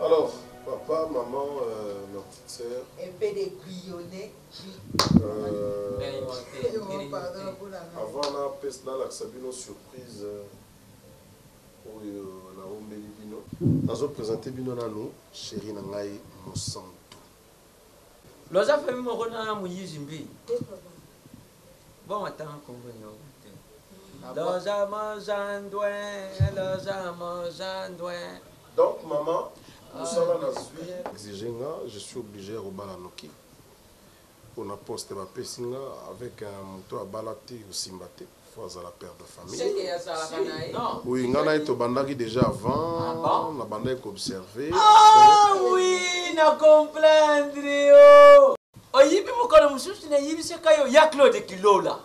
Alors, papa, maman, euh, ma petite sœur. Un peu de bouillonnet. Euh, avant la peste, là, la Sabino surprise. Euh, oyo naombeli bino nazopresente bino nano sheri na ngai mosantu Loza famille moko na moyizi mbi. Bongo atanga kombo eyoka te. Loza mozandwe, loza mozandwe. Donc maman musala na zui. exige nga je suis oblige ya kobala noki pona poste ba pesi nga avec un mutu abala te osimba te. Faut azala père de famille. Oui nga naye tobandaki dejà avant nabandaki ko observer après. Oui na comprendre yo oyibi mokolo mosusu nayebisaka yo ya Claude Kilola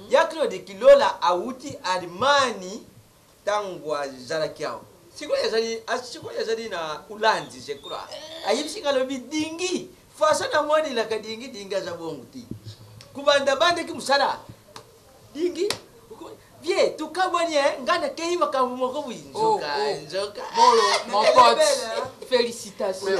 ya Claude Kilola awuti Allemagne tangu azalaki awa sikoyo azali sikoyo azali na ulanzi je crois ayebisi nga alobi dingi façon na moni na kadingi dingi aza bongo ti kubanda banda ki musala dingi vie tukabwani eh nga na keyi makambo moko bwi nzoka oh, oh. nzoka bolo mon pote félicitations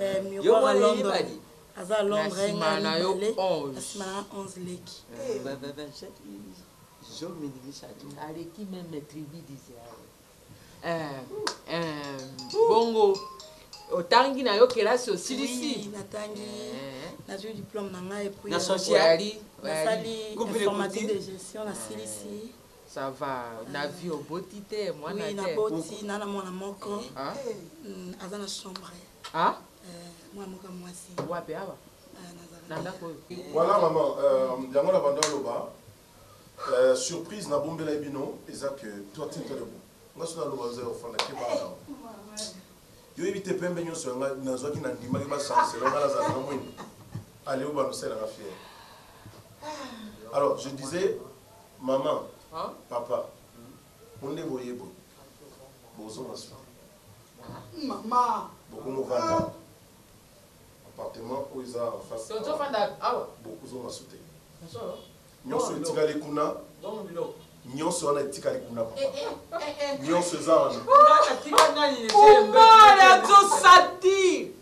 eh, miroir à Londres aza à Londres hein, na na yo 11 na 11 leki eh. ba ba ba zo mini misatu aleki même tribu d'Israël eh eh bongo otangi na yo kelasi osilisi oui, natangi eh. nazwi diplôme na ngai epuis nasali informatique de gestion nasilisi eh. Ça va na vie oboti te mwana te? Oui na boti na na mwana moko ah? mm, aza na chambre ah? eh, mwana moko mwasi wapi awa eh, na ndako oyo voilà maman euh, yango na banda aloba euh, surprise na bombela ye bino eza que toi tinta debout nga soki naloba ozali ofanda ke bana yo yebi te pembe nyonso yanga nazwaki na ndimaki bachancelo nga nazala na mwini aleo banosela nga fiere alors je disais Maman papa bo nde boye boye bozonga suka bokomo vanda awa appartement oyo eza en face awa bokozonga su te nionso etikali kuna nionso wana etikali kuna papa nionso eza wana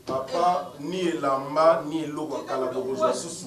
papa ni elamba ni eloko ya kala bokozwa susu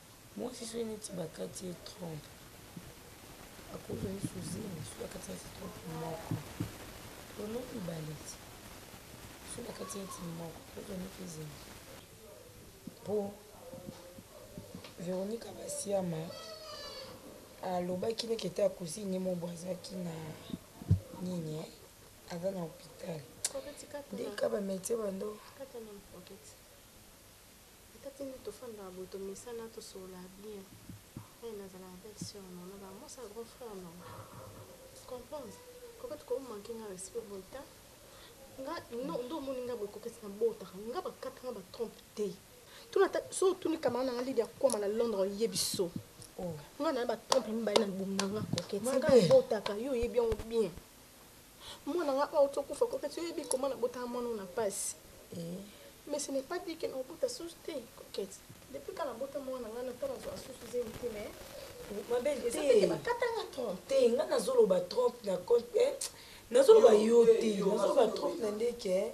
Muasi soki neti bakati ye trompe akozwa lisusu zemi soki akati neti trompe moko to no mibale ti soki bakati neti moko akozwa neti zemi po Veronica Basiama alobaki neti ete ya cousine ye mobo azalaki na nini eh aza na hopital nde kaka ba medecin bando. Ata tina tofandaka boye tomesana tosolola bien eh nazala na belle soeur na nga ba mwasi ya grand frère na nga tu comprends coquette ko manque nga respect boye ta nga non nde omoni nga boye coquette na botaka nga ba kata nga ba trompe te tuna ata so tuni camarade na nga Lydia Kwama na Londres oyebi so oh. nga na ba trompe mibale na libumu na nga coquette nga botaka yo oyebi yango bien Mwana nga awuti okufa coquette yo oyebi comment na botaka mwana oyo na pasi mais ce n'est pas dit que nako bota susu te coquette depuis kala na bota mwana nga na tala zua susu zemi te mais ma belle eza te ba kata nga trompe te nga nazo loba trompe na compte nazo loba yo te nazo loba trompe na ndeke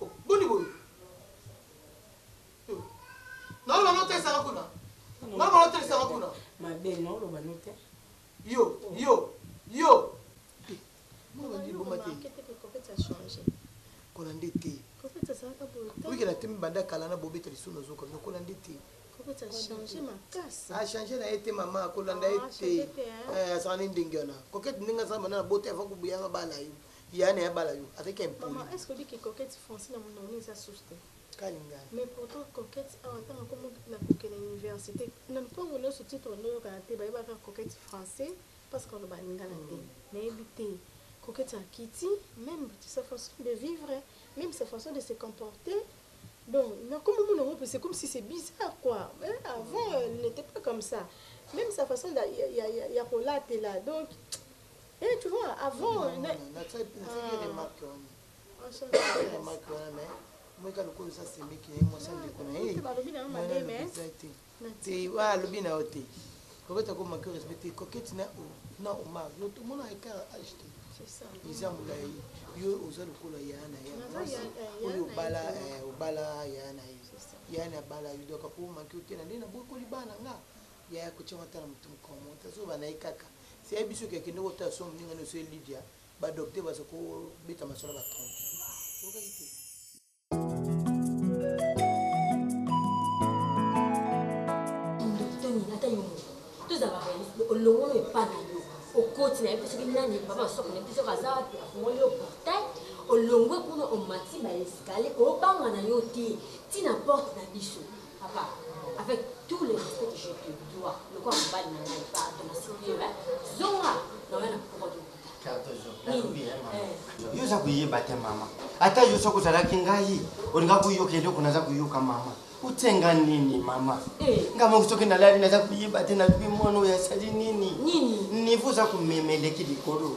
Oh boni boye yo naoloba no otalisaka kuna naoloba no otalisaka kuna mabe naoloba no te yo yo yo kola nde te oyikela te mibanda kala na bobeta lisusu nazoka bino kola nde te achange na ye te mama akolanda ye te azala ne ndenge wana kokete ndenge azala bana na bota ava kobuyanga bala yo Yaya naye abala yo avec impoli. Maman est ce que oyebi que coquette français na munongo eza susu te? Kka lingala. Mais pourtant coquette awa tango akomi na koke na universite na ntango nionso titre nde oyokaka te bayeba kaka coquette français parce que aloba lingala te nayebi te coquette akiti meme sa façon de vivre meme sa façon de se comporter donc nakomi omona yango pe c'est comme si c'est bizarre quoi eh, avant elle n'était pas comme ça meme sa façon ya, ya, ya, ya kolatela donc Eh, tu vois, avant. Non, non, non, na tsaki na tsaki remarque wana. Tsaki remarque wana mais moi ka lokola sa semeki na moi sa ndeko na ye. Balobi na mabe mais. Te wa alobi na ote. Koketa ko manquer respect te koketi na o na o ma yo tout mona écart âge te. C'est ça. Eza mulayi. Yo oza lokola ya na ya. Oyo bala obala ya na ye. Ya na bala yo doka ko manquer te na nde na bokoli bana nga. Yaya kotia mata na mutu mukolo moko te azoba na ye kaka se ayebi soki akendeki otala soki muninga na yo se Lydia ba docteur baza ko beta masolo ba trompe ye oyokaki te. olongolo epa na yo okoti na ye mpe soki nani papa masoko na mpe soki aza wapi afungoli yo portail olongwe kuna omati baeskalier obanga na yo te ntina porte na biso Papa, avec tout le respect que je te dois, lokola mobali na ngai, pardon, nasimbi yo, hein, zonga na oya na pokwa to yo oza koyeba te mama ata yo soki ozalaki ngai olinga koyoka eloko naza koyoka mama otie nga nini mama eh. nga moko soki nalali naza koyeba te nalobi mwana oyo asali nini nivo oza komema eleki likolo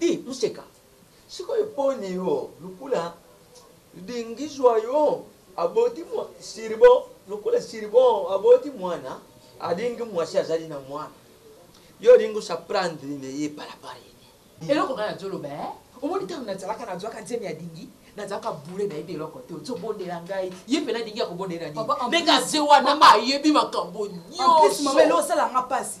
Di moseka sikoyo poni yo lukula di ngizua yo aboti mua siribo lukula siribo aboti muana alingi muasi azali na muana yo olingi osa prendre ne ye par apart ye nini. Eloko nga nazo loba eh omoni tangu nazalaka nazuaka zemi ya dingi nazalaka boule nayebi eloko te ozo bondela ngai ye pena dingi ako bondela nini ndenge aze wana ayebi makambo nioso. En plus maman eloko esala nga pasi.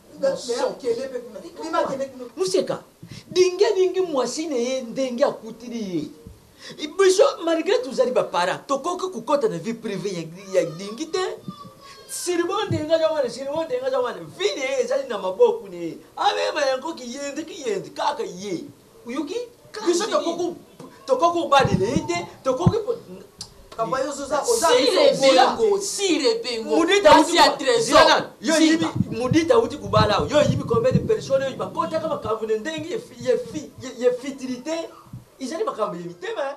Moseka, dingi dingi mwasi na ye ndenge akutili ye. Biso malgre tozali ba parents tokoki kokota na vie prive ya dingi te. Sirbo ndenge aza wana, sirbo ndenge aza wana vie na ye ezali na maboku na ye. Amema yango kiyenzi kiyenzi kaka ye. Oyoki biso tokoku tokoki kobalela ye te tokoki mudita auti kubala yo oyibi combien de personne oyo bakotaka makambo na ndenge ya fitilité ezali makambo ya mitema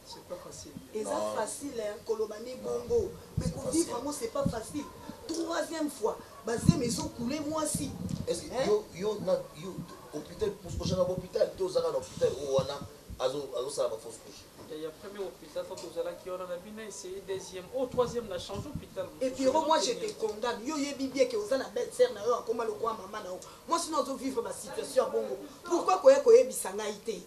C'est pas facile. Eza facile hein koloba nde bongo mais ko vivre yango c'est pas facile troisième fois ba zemi ezo couler mwasi hein. Yo yo na yo hopital oza na hopital te oza kaka na hopital oyo wana azo azo sala ba fausse couche. Ya ya premier hopital tango tozalaki wana na bino essaye deuxième oyo troisième na change hopital mosusu. Epiro moi je te condamne yo oyebi bien que oza na belle sœur na yo akoma lokola maman na yo mwasi na yo azo vivre ba situation ya bongo pourquoi koya koyebisa ngai te.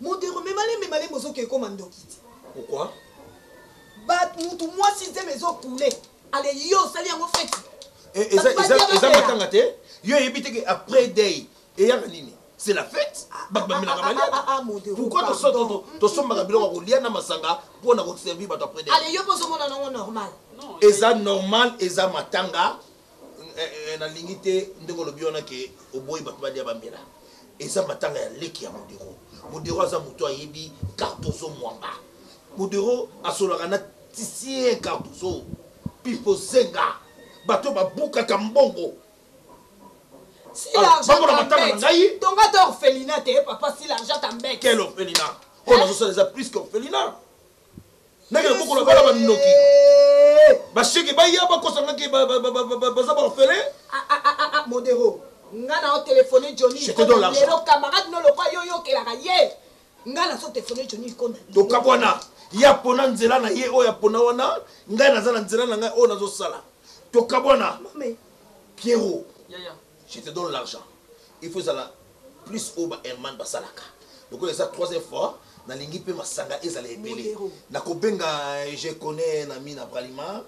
Modero mema lembe malembe ozo ke koma ndoki ti. Pourquoi? Ba mutu mwasi zemi ezo coule ale yo osali yango feti. Eh, eza eza eza matanga te. Yo eyebi te ke après day eyaka nini? c'est la fête bato bamelaka maliaka pourquoi tosombaka biloko ya kolia na masanga mpo na koservir bato après eza normal eza matanga Na lingi te ndenge olobi wana ke oboyi batu balia bamela eza matanga ya leki ya modero modero aza mutu ayebi cardozo muamba modero asolaka na tisien cardozo pipo zenga batu oyo babukaka mbongo si l'argent t'embete tonga ata orphelina te papa si l'argent t'embete quel orphelina oyo nazosala eza plus que orphelina ndenge na bokola bana bandoki basheke baya bakosa ngaki baza baorfele ah, ah, ah, modero nga na otelefone johnilelo camarade no lokwa yo yokelaka ye nga nazo telefone johnny ikonda tokabwana ye apona nzela na ye oyo apona wana ngai naza na nzela na ngai oyo nazosala tokabwana piero Je te donne l'argent il faut ezala plus oyo ba Herman basalaka lokola eza troisième fois nalingi pe masanga ezala ebele nakobenga je connais na mina bralima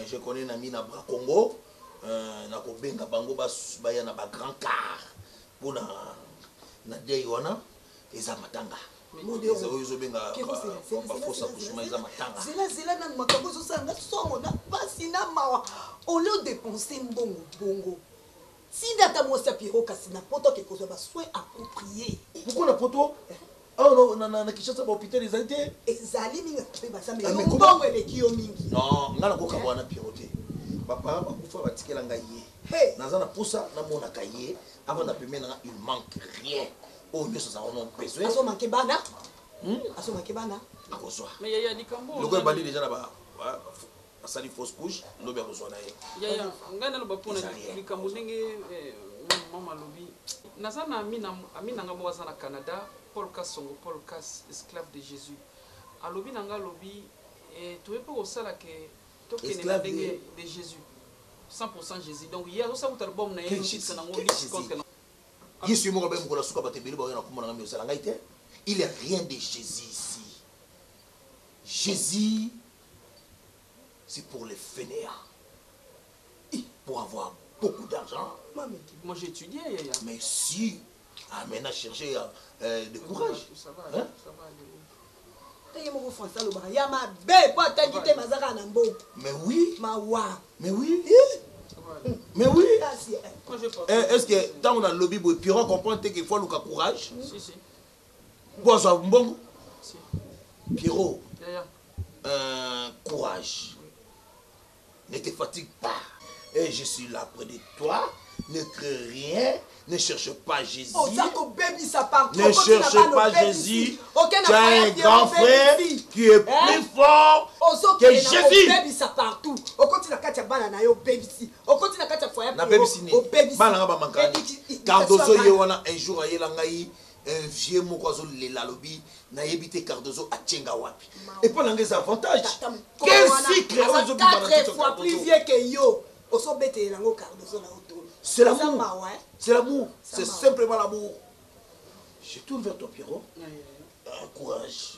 je connais na mina bra congo nakobenga bango baya na ba grand car pona na deuil wana eza matanga. Modero keko zela zela zela nanu makambo ezosala nga somo na pasi na mawa olio depense mbongo bongo tinda ata mwasi ya piero kasi na poto ake kozwa ba soin approprie moko na poto awa na kinshasa bahôpital ezali te ezali mingi mpe basamelombongo eleki yo mingi non nga nakoka bwana piero te baparent bakufa batikela ngai ye naza na mposa namonaka ye avant na pembe na nga il manque rien oyo nyonso aza wana besoin azo manke bana hmm? azo manke bana akozwa loko ebandi deja na ba asali fausse couche lobi akozwa na ye yaya ngai naloba mpona likambo ndenge eh, mama alobi naza na ami na ngai moko aza na canada paul kasongo paul kas esclave de jésus alobi na ngai alobi eh, toye mpe kosala ke tokende na ndenge de jésus 100 jésus donc ye azosala kuta album na ye na yango Yesu ye moko abaki mokolo ya suka bato ebele bakoya na kombo na ngai mais ozala ngai te il est rien de Jesus ici Jesus c'est pour les faineants et pour avoir beaucoup d'argent moi j'ai étudié yaya mais si ah maintenant chercher euh, de courage hein Pe ye moko français alobaka ya mabe po atangi te mais aza kaka na mboka. Mais oui. Mawa. Mais oui. Mais oui. Pasi eh. Eh est-ce que tango na lobi boye Pierrot comprendre te qu'il faut aluka courage? Si si. Po azwa mbongo? Si. Pierrot. Yaya. Euh, courage. Ne te fatigue pas et je suis là près de toi ne crains rien ne cherche pas Jésus. Oza ko bebisa par trop. Ne cherche pas Jésus. Tu as un grand frère qui est hein? plus fort que Jésus. Bebisa partout. Okoti na kati ya bana na yo bebisi. Okoti na kati ya foyer na bebisi ni. Bana nga ba mankani. Cardozo ye wana un jour ayela ngai. Un vieux moko azo lela alobi na yebi te cardozo atie nga wapi epa na nga eza avantage quel sucre oyo ezo bima na nzoto ya cardozo c'est l'amour c'est l'amour c'est simplement l'amour je tourne vers toi pierrot courage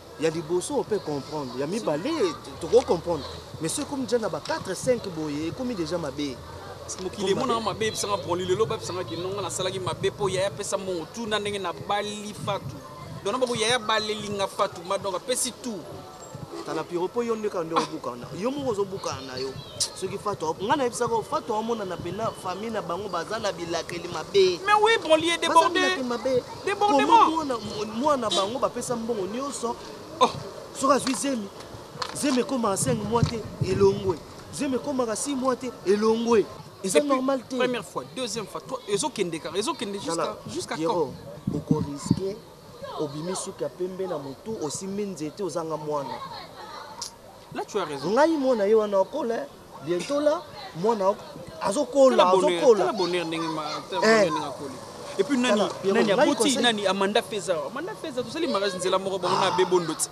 ya liboso ope comprendre ya mibale toko comprendre mais soki ekomi deja na ba 4 5 boye ekomi deja mabe mokili emonaka mabe ebisanga broli lelo babisanga kinonga nasalaki mabe mpo yaya apesa mbongo tuna ndenge nabali fatu dona boko yaya balelinga fatu madonk apesi tu tala piro mpo yo ndeka nde obukana yo moko ozobukana na yo soki fatu ngai nayebisaka fatu amonana mpena famille na bango baza na bilakeli mabe mais oui broli edeborde debordement mwana bango bapesa mbongo nyonso oh. soki azwi zemi zemi ekoma 5 mwa te elongwe zemi ekomaka 6 mwa te elongwe eza normal te première fois deuxième fois ezokende kaka ezokende jusqu'à quand okoriske obimi suki ya pembe na motu osimbi nzete ozanga mwana ngai mwana ye wana okola Bientot là, mwana ok, azo kola, azo kola. Tala bonheur ndenge ma, tala eh. bonheur ndenge akoli. Et puis nani, nani aboti, nani Amanda Feza. Amanda Feza, tosali mariage nzela moko bango na Bebo Ndoti.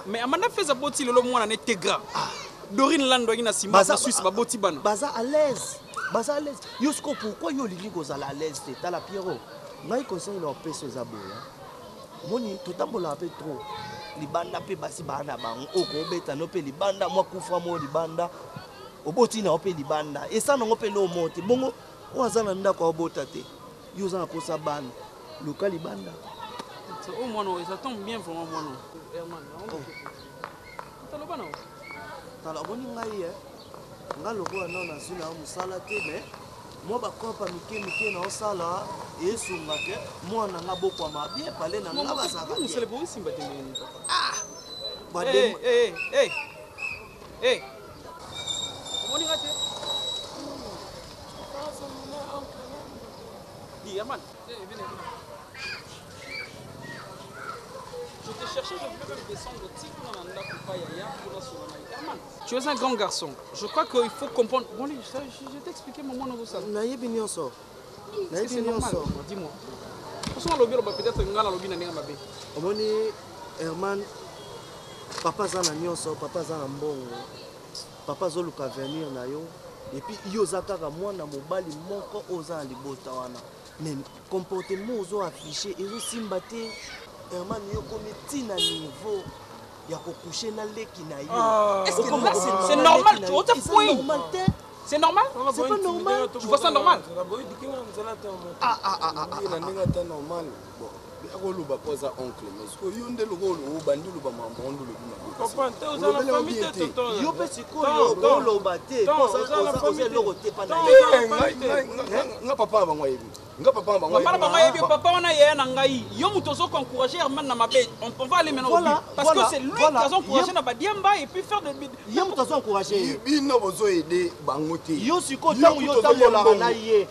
Mais Amanda Feza boti lelo mwana ne Tegra. Ah. Dorine Lando na Simba, na Suisse baboti bana. Baza à l'aise. Baza à l'aise. Yo siko pourquoi yo olingi kozala à l'aise te? Tala Pierrot. Ngai conseil na opesa eza boya. Omoni totambolaka pe trop libanda pe basi baa na bango oyo kobeta no pe libanda mwa kufra moko libanda oboti na yo pe libanda esa nango pe eloko moko te bongo oyo aza na ndako aobota te yo oza na posa bana luka libanda oyo mwana oyo eza tombe bien vraiment mwana oyo herman toloba na yo Tala omoni ngai eh Nga lokola nao nazui na yo musala te mais Mwa ba coop ya mike mike nao sala esunga que mwana na nga abokwama bien Pale na nga bazalaka bien Ah Ba dem Eh eh eh eh Eh Omoni nga te Di Herman Tu es un grand garçon. Je crois qu'il faut comprendre. Bon, je, je, je t'ai expliqué mon mono ça. Nayebi nyonso. Nayebi nyonso. Dis-moi. Parce qu'on lobi loba peut-être ngala lobi na nenga mabe. Omoni Herman papa za na nyonso, papa za na mbongo. Papa azoluka avenir na yo et puis yo oza kaka mwana mobali moko oyo oza na libota wana mais comportement ozo afficher ezosimba te Herman yo komi ti na niveau ya kokouche na leki na yo ah. est-ce que là c'est normal tu ota point normal te C'est normal C'est pas normal Tu vois ça normal Ah ah ah ah, ah, ah, ah. akoloba po aza oncle mais sikoyo yo nde lokola obandi oloba makambo yango nde olobi mabeyo mpe sikoyo oloba te oza eloko te nga papa na bango ayebi nga papa na bango mama na bango ayebi papa wana yaya na ngai yo moto ozo encourage herman na mabe on peut aller maintenant voilà, parce voilà, que c'est lui voilà, qui azo encourage na badiamba et puis faire de yo moto azo encourage bino bozo aider bango te yo sikoyo ntango yo otambolaka na ye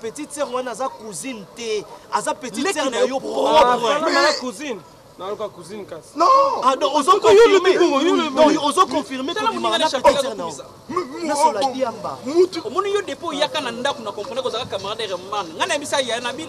petite sœur wana aza cousine te aza petite sœur na yo propre cousine nayoka cousine kasi ozo confirme tobimanasola diamba omoni yo depo oyaka na ndako na comprendre kozalaka camarade ya reman ngai nayebisa ya nabi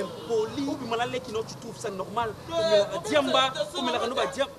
impoli obima na leki no tu trouve ça normal omelaka diamba omelaka no ba diamba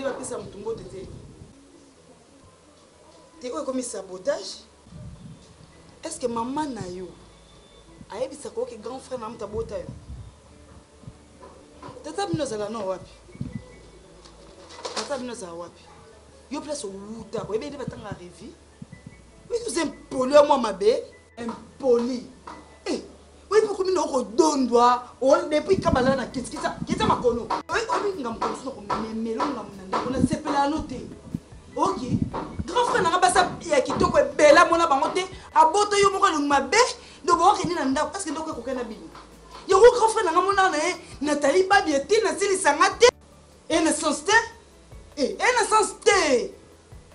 nde bapesa motu mbote te te oyo ekomi sabotage est ce que mama na yo ayebisaka oke grand frère na moto abota yo tata bino ozala no wapi tata bino ozala wapi yo place owuta oyebi nde batanga revie mais oza impolo ya mwa mabe Impoli. Eh, oyebi okomi na okodondwa depuis kabala na kitikisa kita makono. Oyebi oyebi ngambo kono sino komemelo ngambo na ndako na sepela ano te. Ok. Grand frère na nga basa ya kitoko ebela mona bango te aboto yo moko elongi mabe donc okende na ndako parce que ndako ekoka na bino. Yango grand frère na nga mona na ye Nathalie Babi ete nasilisa nga te. Et na sens te. Eh, et na sens te.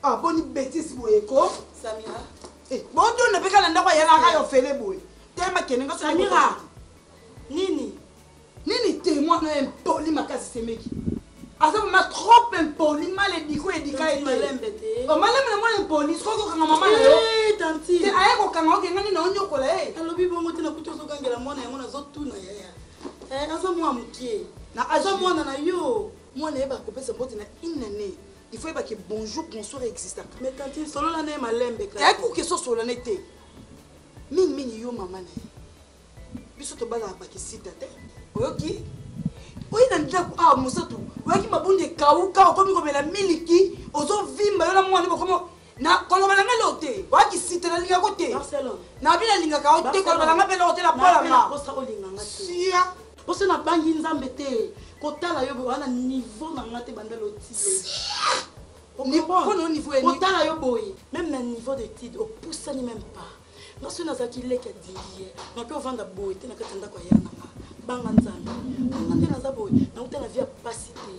Ah, boni betise boye ko samira eh, bondona mpe kala ndako ayalaka yo fele boye tema kende nga samira nini nini te mwana oyo impoli makasi semeki aza mama trop impoli mal ediko edika etelembe omalembe na mwana impoli soki kokanga mama na yo te aye kokanga okenga nini onyokola ye eh. alobi bongo te nakuti ozogangela mwana yango nazotuna yaya eh, aza mwana mokie aza mwana na yo mwana ye bakopesa mbote na inane il faut yeba ke bonjour bonsoir existaka mais tantine solola na ye malembe kaka kuki eso solola na ye te mingimingi yo mama na ye biso tobalaka bakisita te oyoki oyi na ndako awa ah, mosatu oyaki mabundi ekauka okomi komela miliki ozovimba yo na mwana bokomo na koloba na ngai leo te oyaki site na lingako te na bino alingaka yo te koloba na ngai mpe leo te na pola nga sia poso nabangi nzambe te kotala yo boye wana niveau na nga te banda lotile niveau boye meme na niveau de tide opusani meme pas nga soki nazalaki leki andingi ye nake ovanda boye te na kati ya ndako ya yana nga banga nzambe banga nde naza boye nauta na vie ya mpasi te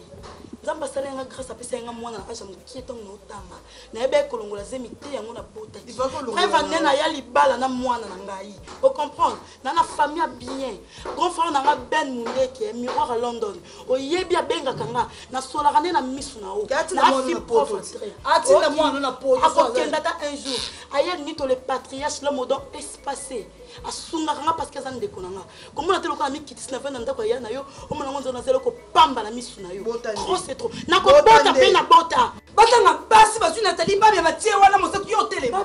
nzambe asala yanga grâce apesa yanga mwana na age ya mokie ntango naotanga nayebaki kolongola zemi te yango nabotakipreva nde naya libala na mwana na ngai ocomprendre na na famille ya bien grand frère na nga ben mundeke miroir ya london oyebi abengaka nga nasolaka nde na misu na yo akokenda ata un jour aye nito le patriarche le modon espace asungaka nga parce que aza ndeko na nga komona te lokola mikitisi na vanda ndako ya na yo omona ngo nzela nazali kopamba na misu na yo trop c'est trop nakobota mpe nabota batanga mpasi bazwi natali babi ya batie wana mosatu yo otelema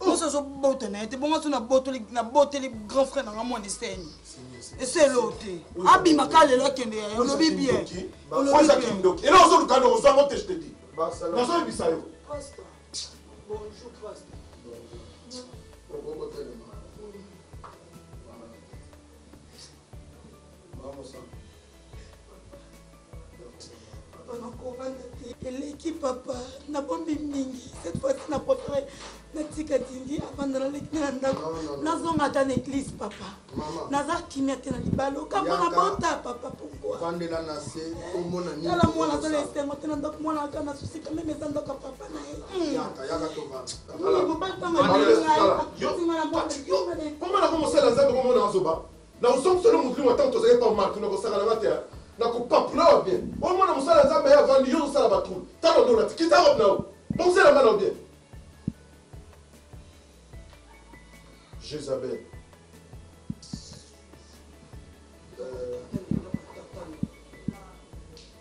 oso azobota na ye te bongo aso naboteli grand frère na nga mwana eseni eselo te abima ka lelo akende ya olobi bien olobikindoki elo ozoluka nde ozango te jete di nazoyebisa yo eleki papa nabombi mingi cette fois-ci na préféré natika dindi avanda naleki na ndako nazonga ata na église papa naza kimia te na libala okambo na bota papa pourquoitala mwana azala esengo te na ndako mwana aka na susi quand même eza ndako ya papa na ye mobali ntango alinga ye akotinga na mwana Na kozongisa yo na molimo tango tozalaki epa Marco na kosaka na nga te hein. Na ko papula yo bien. Oyo mwana mosala ya Nzambe aye avandi yo ozo sala ba trouble. Tala nde olati. Kita robe na yo. Bongisa elamba na yo bien. Jezabel. Euh...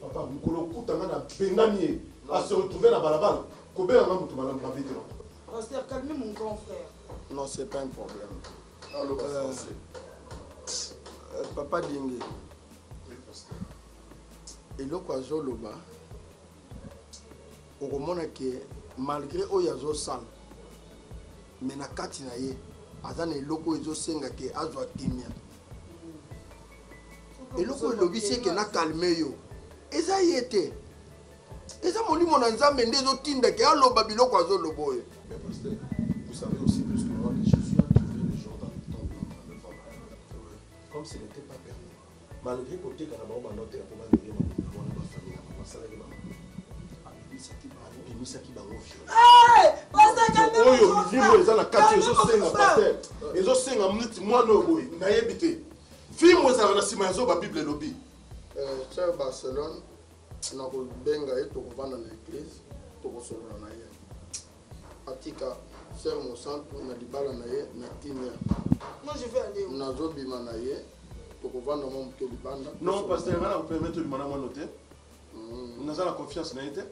papa mokolo okuta nga na bengani ye ase retrouve na balabala kobenga nga moto malamu mabe te papa Pasteur, calmez mon grand frère. non c'est pas un problème aloba Euh, français euh, papa dingi eloko azoloba okomona ke malgré oyo azosala me na kati na ye aza na eloko oyo ezosenga ke azwa kimia eloko oyo elobisi eke na kalme yo eza ye te eza molimo na nzambe nde ezotinda ke aloba biloko azoloba oyo Comme ce n'était pas permis. Malgre koteka na bango ba note ya koba ndenge makambo na mwana ba famille na bango asalaki bango abimisaki bango abimisaki bango viol oyo livre eza na kati ezosenga paster ezosenga mniti mwana oyo boye nayebi te fimo ezalaka na nsima ya zoba bible elobi cher eh, barcelone nakobenga ye tokovanda na eglise tokosolola na ye atika sœur mosantu na libala na ye na kimia Moi, je veux aller. nazobima na ye tokovanda mwa moke libanda non pasteur ngai nakopermettre obima na mwana te Mm. naza na confiance na ye te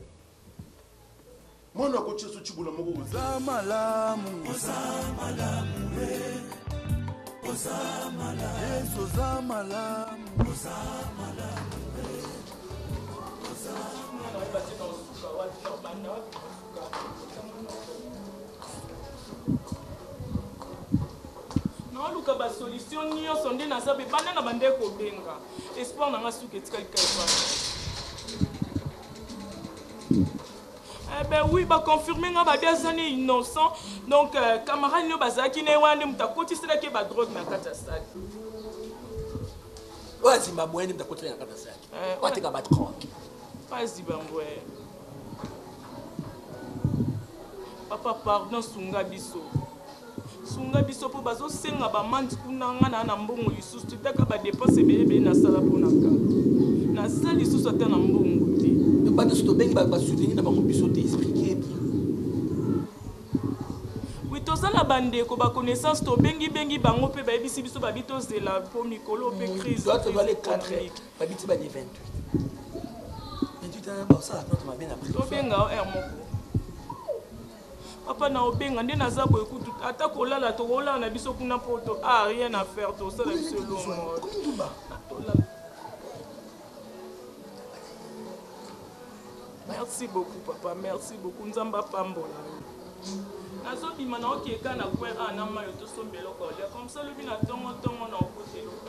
mwana akotia so cibola moko boye. oza malamu oza malamu oza malamu yesu oza malamu oza malamu oza malamu naoluka ba solution nyonso nde naza be banda na bande kobenga espoir na nga suka etikali kaipa Eh ben oui, ba confirmer nga ba deux années innocent. Donc euh, camarade nyo bazaki ne wana nde muta koti sala ke ba drogue na kata sac. Oya Zimbabwe nde muta koti na kata sac. Eh, Oya teka ba drogue. Pas Zimbabwe. Papa pardon sunga biso sunga biso po bazo senga ba mande kuna nga na na mbongo lisusu te taka ba depense ebele ebele na sala po na ka na za lisusu ata na mbongo te ba biso to bengi ba soutenir na bango biso te expliquer bien oui toza na ba ndeko ba connaissance to bengi bengi bango pe ba yebisi biso ba bi tozela po mikolo pe crise babiti ba le 28 28 ba osala plante mabe na prix tobenga o heure moko papa na obenga nde naza boye kutu ata kolala tokolala na biso kuna poto a ah, rien à faire tosala biso elongo merci beaucoup papa merci beaucoup nzambe apambola nazobima na okeka na kwe a ah, na mayo tosomba eloko olia comme ça lobi na ntongo ntongo na okota eloko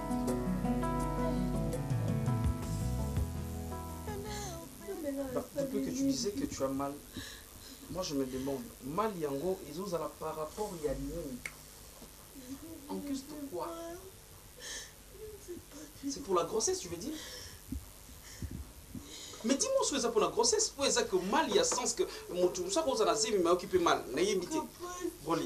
Depuis que tu disais que tu as mal, moi je me demande, mal yango ezozala par rapport ya nini En plus de quoi C'est pour la grossesse, tu veux dire mais dis-moi soki eza mpona grossesse oyo eza que mal ya sens que motu mosu akozala zemi mayoki mpe mal nayebi te boli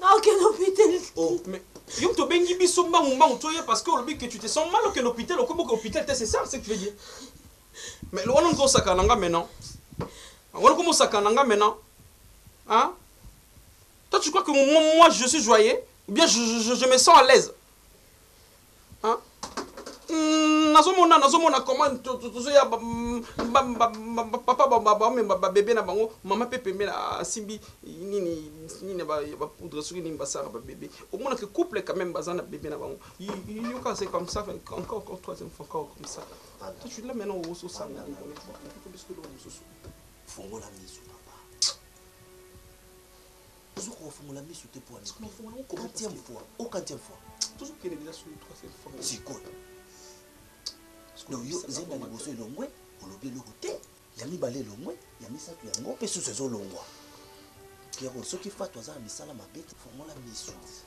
Nakokende hopital te. Oh, mais yo moto obengi biso mbangu mbangu toya parce que olobi que tu te sens mal okende hopital okomi boke hopital te c'est ça ce que tu veux dire mais wana moto osakana na nga maintenant wana okomi osakana na nga maintenant hein toi tu crois que moi, moi je suis joyeux ou bien je, je, je, je me sens à l'aise Nazo mona nazo mona comment tozo ya papa ba mema ba bebe na bango mama pe pembeni asimbi nini nini ba ba poudre soki nini basala ba bebe omona ke couple quand même baza na bebe na bango yoka c'est comme ça encore encore troisième fois encore comme ça tu tu là maintenant oso sanga ni bono ko bisko do mususu fongola misu papa Ozo ko fungola misu te pwani. Sikoyo fungola ko comment. Quantième fois? O quantième fois? Tozo kende deja sur troisième fois. Sikoyo. Donc yo zenda liboso elongwe olobi eloko te. Ya mibale elongwe, ya misato yango pe susu ezo longwa. Pierrot soki Fatou aza na misala mabe te fungola misu.